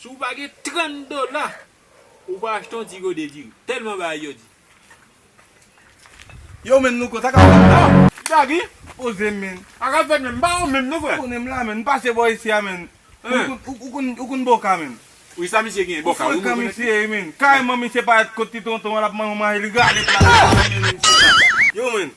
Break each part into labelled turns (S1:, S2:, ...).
S1: Si w pa gen 30 dola ou pa achte yon ti gode diri. Telman bagay yo di.
S2: Yow men louko sa kap fet la a. Sa ki.
S1: Poze men.
S2: Sa kap fet men m pa wè w
S1: menm non frè. M konnen m la menn m pase bò
S2: isi a menn. Ou konn boka menn. Wi sa misye gen
S1: boka wi. Ou frekan misye wi menn.
S2: Kareman misye paret kot ti tonton an lap mande yon mayi li gale plat la menn. Yow menn.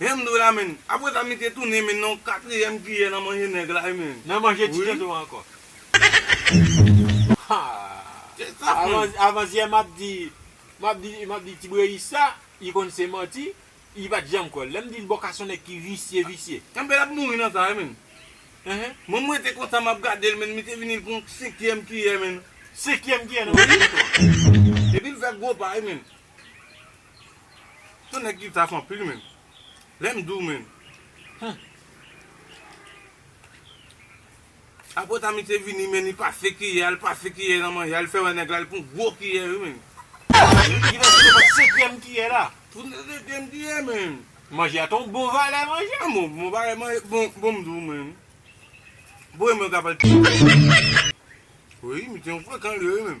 S1: Hemdoulah
S2: menn. Apre sa misye tounen menn nan yon katriyèm kiyè nan manje nèg la wi menn. Nan manje ti tèt ou an
S1: ankò.
S2: Avansyè map
S1: di map di map di ti breyis sa li konn se manti li pat janm kwèl lèm dil bòka son nèg ki visye visye. Anben lap mouri nan
S2: sa wi menn. Mwen m rete konsa map gadel menn misye vini pran yon senkyèm kiyè menn. Senkyèm kiyè nan manje
S1: tèt ou
S2: an. Epil fè gwo pa wi menn. Yon nèg ki taf anpil menn. Lèm diw menn. Humm. Aprè Tamy te vini menn li pase kiyè a li pase kiyè nan manje a li fè wè nèg la li pran gwo kiyè wi menn. Yo te
S1: gentan site bat senkyèm kiyè la. Fout mwen senkyèm kiyè
S2: menn. Manje a te yon bon
S1: valè manje a. Bon bon bagay manje
S2: bon bon m diw menn. Bon e mwen kap al ti kiyè. Wi misye yon frekan liye wi menn.